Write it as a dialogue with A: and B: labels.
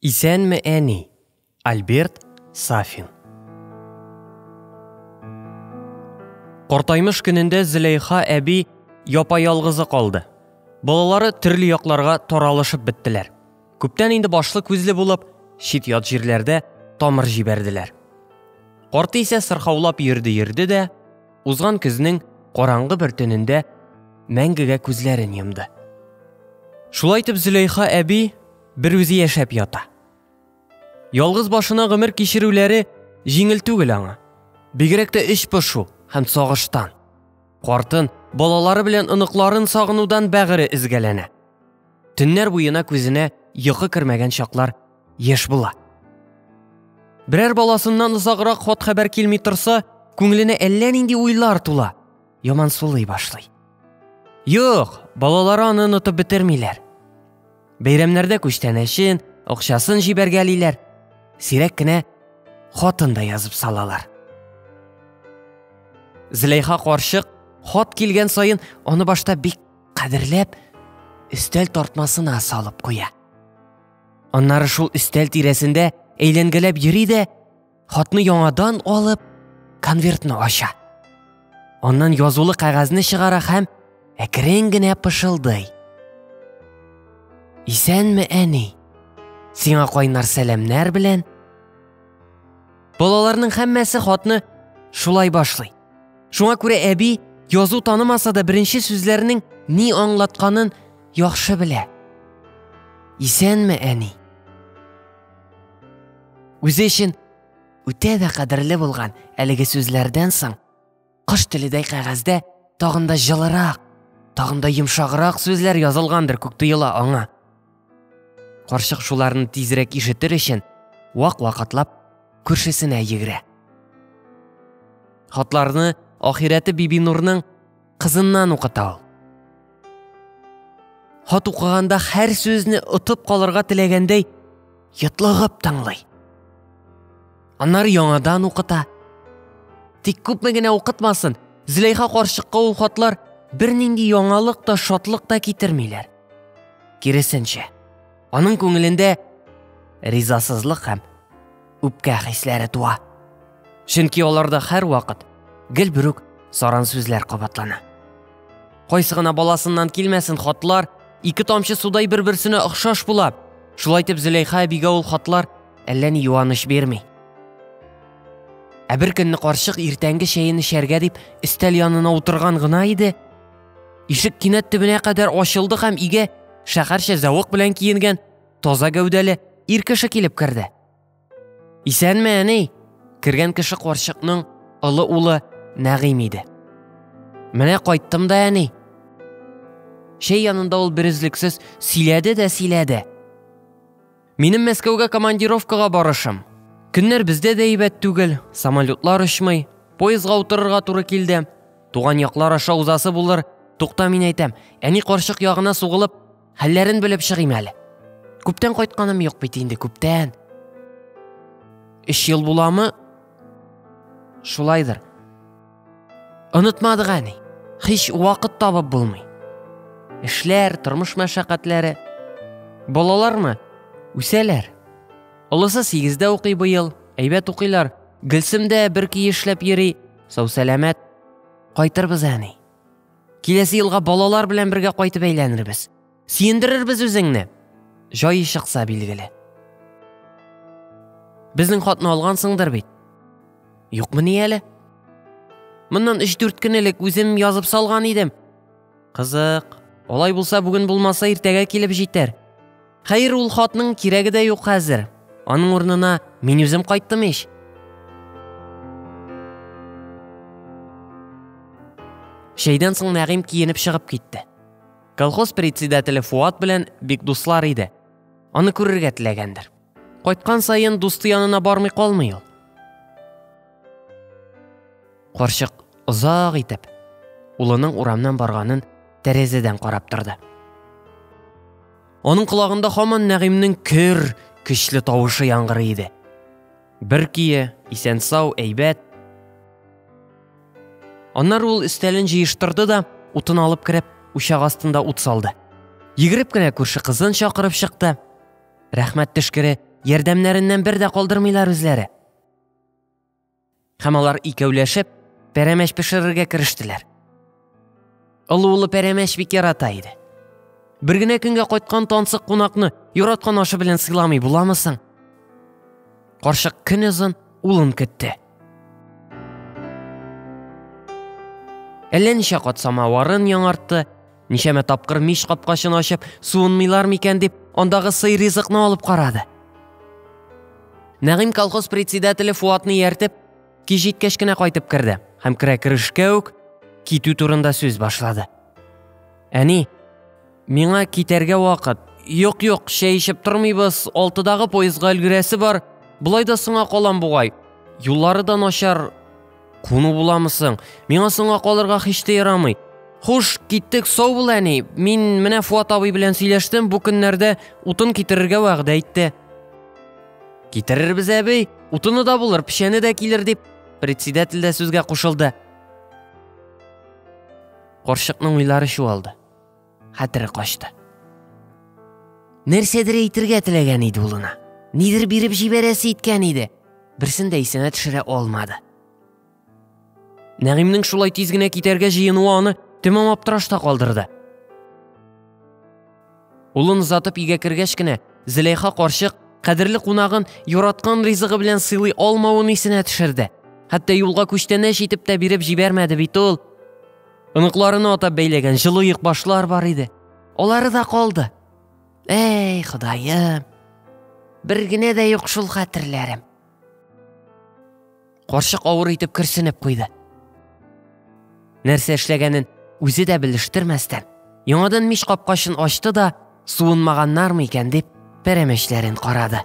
A: Исәнме, әни! Альберт Сафин. Кортаймыш көнендә Зөләйха әби япа-ялгызы калды. Балалары төрле якларга таралышып беттеләр. Күптән инде башлы күзле булып, чит ят җирләрдә тамыр җибәрделәр. Карты исә сырхаулап йөрде-йөрде дә, узган көзнең караңгы бер төнендә мәңгегә күзләрен йомды. Шулай итеп Зөләйха әби бер үзе яшәп ята. Ялгыз башына гомер кичерүләре җиңел түгел аңа. Бигрәк тә эч пошу һәм сагыштан. Картын, балалары белән оныкларын сагынудан бәгыре изгәләнә. Төннәр буена күзенә йокы кермәгән чаклар еш була. Берәр баласыннан озаграк хат хәбәр килми торса, күңеленә әллә нинди уйлар тула, ямансулый башлый. Юк, балалары аны онытып бетермиләр. Бәйрәмнәрдә күчтәнәчен, акчасын җибәргәлиләр. Сирәк кенә хатын да язып салалар. Зләйха карчык хат килгән саен аны башта бик кадерләп өстәл тартмасына салып куя. Аннары шул өстәл тирәсендә әйләнгәләп йөри дә хатны яңадан алып конвертны ача аннан язулы кәгазьне чыгара һәм әкрен генә пышылдый исәнме әни сиңа кайнар сәламнәр белән балаларның һәммәсе хатны шулай башлый шуңа күрә әби язу танымаса да беренче сүзләрнең ни аңлатканын яхшы белә исәнме әни Үзе өчен үтә дә кадерле булган әлеге сүзләрдән соң кош теледәй кәгазьдә тагын да җылырак, тагын да йомшаграк сүзләр язылгандыр күк тоела аңа. Карчык шуларны тизрәк ишетер өчен вак вакытлап күршесенә йөгерә. Хатларны ахирәте Бибинурның Кызыннан укыта ул. Хат укыганда һәр сүзне отып калырга теләгәндәй йотлыгып тыңлый. Аннары яңадан укыта. Тик күпме генә укытмасын, Зөләйха карчыкка ул хатлар бернинди яңалык та, шатлык та китермиләр. Киресенчә, аның күңелендә ризасызлык һәм үпкә хисләре туа. Чөнки аларда һәрвакыт гел бер үк саран сүзләр кабатлана. Кайсы гына баласыннан килмәсен хатлар, ике тамчы судай бер-берсенә охшаш була. Шулай итеп Зөләйха әбигә ул хатлар әллә ни юаныч бирми. Ә бер көнне карчык иртәнге чәен эчәргә дип өстәл янына утырган гына иде. Ишек кинәт төбенә кадәр ачылды һәм иге шәһәрчә зәвык белән киенгән таза гәүдәле ир кеше килеп керде. Исәнме, әни? Кергән кеше карчыкның олы улы Нәгыйм иде. Менә кайттым да, әни. Шәй янында ул берүзлексез сөйләде дә сөйләде. Минем Мәскәүгә командировкага барышым. Көннәр бездә дә әйбәт түгел, самолетлар очмый, поездга утырырга туры килде. Туган яклар аша узасы булыр, Тукта мин әйтәм, әни карчык ягына сугылып, Хәлләрен белеп чыгыйм әле. Күптән кайтканым юк бит инде, күптән. Өч ел буламы? Шулайдыр. Онытмадык әни. Хич вакыт табып булмый. Эшләр, тормыш мәшәкатьләре. Балалармы? Үсәләр. Олысы сигездә укый быел, әйбәт укыйлар. Гөлсем дә бер ки эшләп йөри, сау-сәламәт. Кайтырбыз әни. Киләсе елга балалар белән бергә кайтып әйләнербез. Сөендерербез үзеңне. Җай чыкса билгеле. Безнең хатны алгансыңдыр бит. Юкмы ни әле? Моннан 3-4 көн элек үзем язып салган идем. Кызык. Алай булса бүген булмаса иртәгә килеп җитәр. Хәер, ул хатның кирәге дә юк хәзер. Аның урынына мин үзем кайттым ич. Чәйдән соң Нәгыйм киенеп чыгып китте. Колхоз председателе Фуат белән бик дуслар иде. Аны күрергә теләгәндер. Кайткан саен дусты янына бармый калмый ул. Карчык озак итеп улының урамнан барганын тәрәзәдән карап торды. Аның колагында хаман Нәгыймнең көр, көчле тавышы яңгырый иде. Бер кие, исән сау, әйбәт. Аннары ул өстәлен җыештырды да, утын алып кереп, учак астында ут салды. Йөгереп кенә күрше кызын чакырып чыкты. Рәхмәт төшкере, ярдәмнәреннән бер дә калдырмыйлар үзләре. Һәм алар икәүләшеп, пәрәмәч пешерергә керештеләр. Олы улы пәрәмәч бик ярата иде. Бер генә көнгә кайткан тансык кунакны яраткан ашы белән сыйламый буламы соң? Карчык көн озын улын көтте. Әллә ничә кат самаварын яңартты, Ничәмә тапкыр мич капкачын ачып, суынмыйлар микән дип, андагы сый ризыкны алып карады. Нәгыйм колхоз председателе Фуатны ияртеп, кич җиткәч кенә кайтып керде һәм керә керешкә үк китү турында сүз башлады. Әни, миңа китәргә вакыт. Юк, юк, чәй эчеп тормыйбыз, алтыдагы поездга өлгерәсе бар. Болай да соңа калам бугай. Юллары да начар, Куну буламы соң? Миңа соңга калырга һич тә ярамый. Хуш, киттек, сау бул, әни. Мин менә Фуат абый белән сөйләштем, бу көннәрдә утын китерергә вәгъдә итте. Китерербез, әби, утыны да булыр, печәне дә килер, дип председатель дә сүзгә кушылды. Карчыкның уйлары чуалды. хәтере качты. Нәрсәдер әйтергә теләгән иде улына. Нидер биреп җибәрәсе иткән иде. Берсен дә исенә төшерә алмады. Нәгыймнең шулай тиз генә китәргә җыенуы аны тәмам аптырашта калдырды. Улын озатып өйгә кергәч кенә Зөләйха карчык кадерле кунагын яраткан ризыгы белән сыйлый алмавын исенә төшерде. Хәтта юлга күчтәнәч итеп тә биреп җибәрмәде бит ул. Оныкларына атап бәйләгән җылы йөкбашлар бар иде. Алары да калды. Әй, Ходаем. Бер генә дә юк шул хәтерләрем. Карчык авыр итеп керсенеп куйды. Нәрсә эшләгәнен үзе дә белештермәстән, яңадан мич капкачын ачты да, суынмаганнармы икән дип, пәрәмәчләрен карады.